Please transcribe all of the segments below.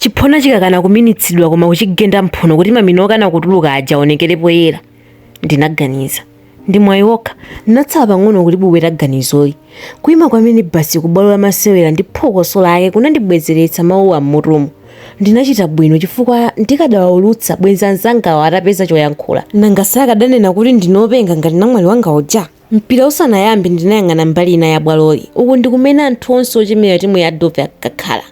Chiphona chikakana kuminitsidwa koma kuchigenda mphuno kuti mamina okana kutuluka aja aonekere poyera, ndinaganiza. Ndi mwayi wokha. Ndinatsala pang'ono kulibwebweta ganizoli. Kuima kwa minibasi ku bwalo la masewera ndi phokoso lake kunandibwezeretsa mawuwa m'mutumu. Ndinachita bwino chifukwa ndikadawaulutsa, bwenzi anzangawo atapeza choyankhula. Nanga sakadanena kuti ndine wopenga ngati namwali wanga uja? Mpira usanayambe ndinayang'ana mbali ina ya bwaloli. Uku ndi kumene anthu onse ochemerera timu ya Dove ankakhala.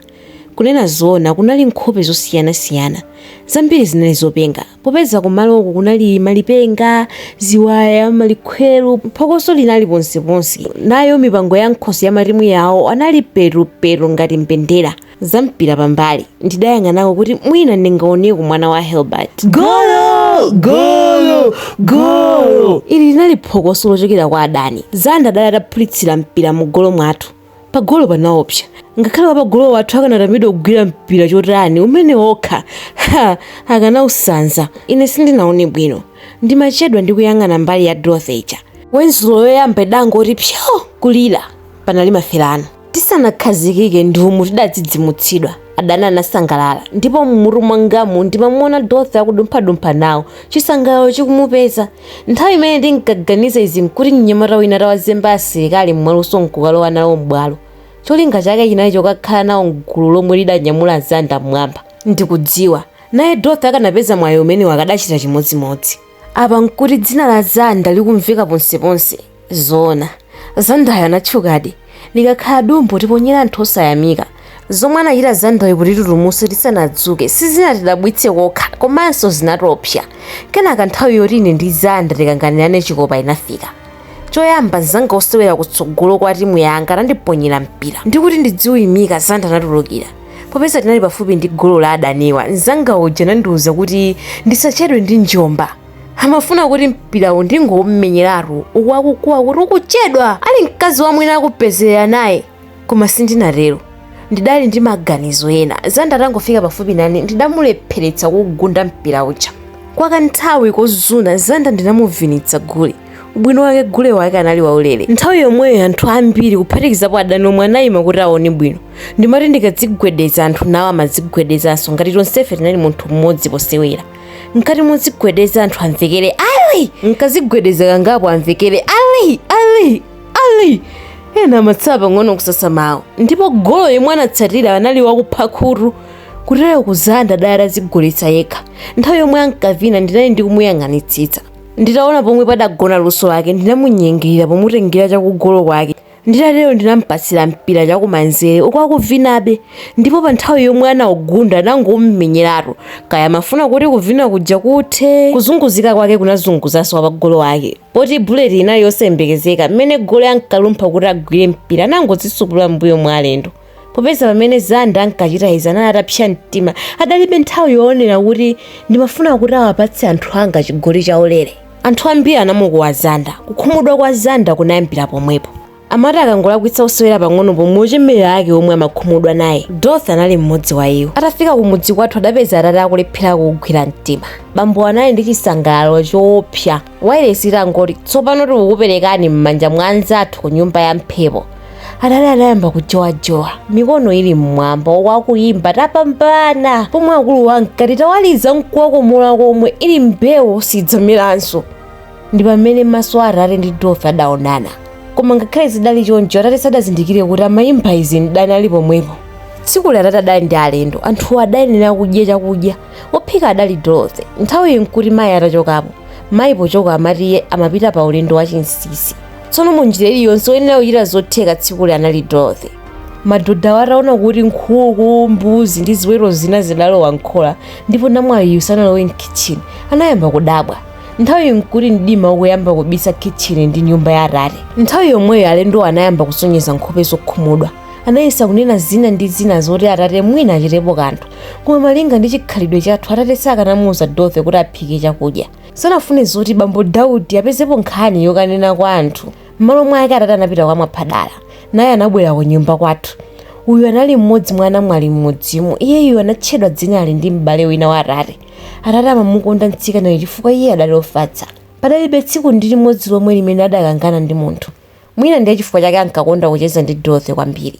Kunena zoona, kunali nkhope zosiyanasiyana. Zambiri zinali zopenga, popeza kumaloku kunali malipenga, ziwaya, malikhweru, phokoso linali ponseponse. Nayo mipango ya m'khosi ya matimu yawo anali petupetu ngati mbendera. Zampira pambali, ndidayang'anako kuti mwina ndingaoneko mwana wa Hilbert. Golo! Golo! Golo! Ili linali phokoso lochokera kwa adani. Zanda adali ataphulitsira mpira mugolo mwathu. Pagolo panaopsa. Ngakhale wapagolo wathu akanatambidwa kugwira mpira chotani umene wokha, ha, akanausanza. Ine sindinaone bwino. Ndimachedwa ndi kuyang'ana mbali ya Dorothy ija. Wenzulo yoyamba idangoti pyo! kulira. Panali maferano. Tisanakhazikike ndi umu tidadzidzimutsidwa, adani anasangalala, ndipo m'mutu mwangamu ndimamuona Dorothy akudumphadumpha nawo, chisangalalo chikumupeza. Nthawi imene ndinkaganiza izi n'kuti mnyamata wina atawazemba asilikali mwaluso n'kukalowa nawo m'bwalo. Cholinga chake chinali chokakhala nawo m'gulu lomwe lidanyamula Zanda m'mwamba. Ndikudziwa, naye Dorothy akanapeza mwayi umenewu akadachita chimodzimodzi. Apa n'kuti dzina la Zanda likumveka ponseponse. zoona zandayo anatchukadi likakhala dumbo tiponyere anthu osayamika zomwe anachita zandayo kutitutumutsa tisanadzuke sizinatidabwitse kokha komanso zinatiopsa kenaka nthawi yoti ine ndi zanda tikanganirane chikopa inafika choyamba mzanga osewera kutsogolo kwa timu yanga atandiponyera mpira ndikuti ndidziuyimika zanda anatulukira popeza tinali pafupi ndi golo la adaniwa mzanga uja anandiwuza kuti ndisachedwe ndi njomba amafuna kuti mpirawo ndingoumenyeratu uku akukuwa kuti ukuchedwa ali mkazi wamwini akupezerera naye koma sindinatero ndidali ndi maganizo ena zanda atangofika pafupi nane ndidamulepheretsa kugunda mpira uja kwa kanthawi kozuna zanda ndinamuvinitsa gule ubwino wake gule wake anali waulere nthawi yomweyo anthu ambiri kuphatikizapo adani omwe anayima kuti aone bwino ndimati ndikadzigwedeza anthu nawo amadzigwedezanso ngati tonsefe tinali munthu mmodzi posewera mkati muzigwedeza anthu amvekere ali nkadzigwedeza kangapo amvekere ali ali ali ena amatsala pang'ono kusasa mawu ndipo golo yemwe anatsatira anali wakupha khutu kuteroko zanda adali atadzigoletsa yekha nthawi yomwe ankavina ndinali ndikumuyang'anitsitsa nditaona pomwe padagona luso lake ndinamunyengerera pomutengera chakugolo kwake Nditatero ndinamupatsira mpira chakumanzere uku akuvinabe ndipo pa nthawi yomwe anaugunda anangomumenyeratu kaya amafuna kuti kuvina kuja kuthe. Kuzunguzika kwake kunazunguzanso wapagolo wawo poti bullet inali yosayembekezeka mmene goli ankalumpha kuti agwire mpira anangodzisupula mmbuyo mwa alendo. popeza pamene zanda ankachita izi anali atapsa mtima adalibe nthawi yoonera kuti ndimafuna kuti awapatse anthu anga chigoli chaulere anthu ambiri anamukuwa zanda kukhumudwa kwa zanda kunayambira pomwepo amati akangolakwitsa kusewera pang'ono pomwe ochemerera ake omwe amakhumudwa naye Dorothy anali mmodzi wa iwo atafika ku mudzi kwathu adapeza atate akulephera kugwira mtima bambo anali ndi chisangalalo choopsa wailesi itangoti tsopano tikukuperekani m'manja mwa anzathu ku nyumba ya mphepo atate adayamba kujowajowa mikono ili mmwamba akuyimba tapambana pomwe akulu ankati tawaliza mkuwakomola komwe ili mbewu sidzamiranso ndi pamene maso a atate ndi Dorothy adaonana koma ngakhale zidali choncho atate sadazindikire kuti amayimba izi mdani ali pomwepo tsikuli atate adali ndi alendo anthuwo adayenera kudya chakudya Wophika adali Dorothy. Nthawiyi n'kuti mayi atachokapo. Mayi pochoka amati iye amapita pa ulendo wachinsisi. Tsono mu njira iliyonse woyenera kuchita zotheka tsikuli anali Dorothy. Madodawa ataona kuti nkhuku, mbuzi ndi ziweto zina zidalowa m'khola ndipo namwaliyu sanalowe m'khitchini, anayamba kudabwa. Nthawiyi n'kuti mdima ukuyamba kubisa khitchini ndi nyumba ya atate. Nthawi yomweyo alendowo anayamba kusonyeza nkhope zokhumudwa. anayesa kunena zina ndi zina zoti atate mwina achitepo kanthu koma malinga ndi chikhalidwe chathu atate sakanamuuza dorothy kuti aphike chakudya sanafune zoti bambo daudi apezepo nkhani yokanena kwa anthu m'malo mwake atate anapita kwa mwaphadala naye anabwera ku nyumba kwathu uyu anali mmodzi mwa anamwali mmudzimu iyeyu anatchedwa dzinali ndi m'bale wina wa atate atate amamukonda mtsikanayu chifukwa iye adali ofatsa padalibe tsiku ndi limodzi lomwe limene adakangana ndi munthu Mwina ndiye chifukwa chake ankakonda kucheza ndi Dorothy kwambiri.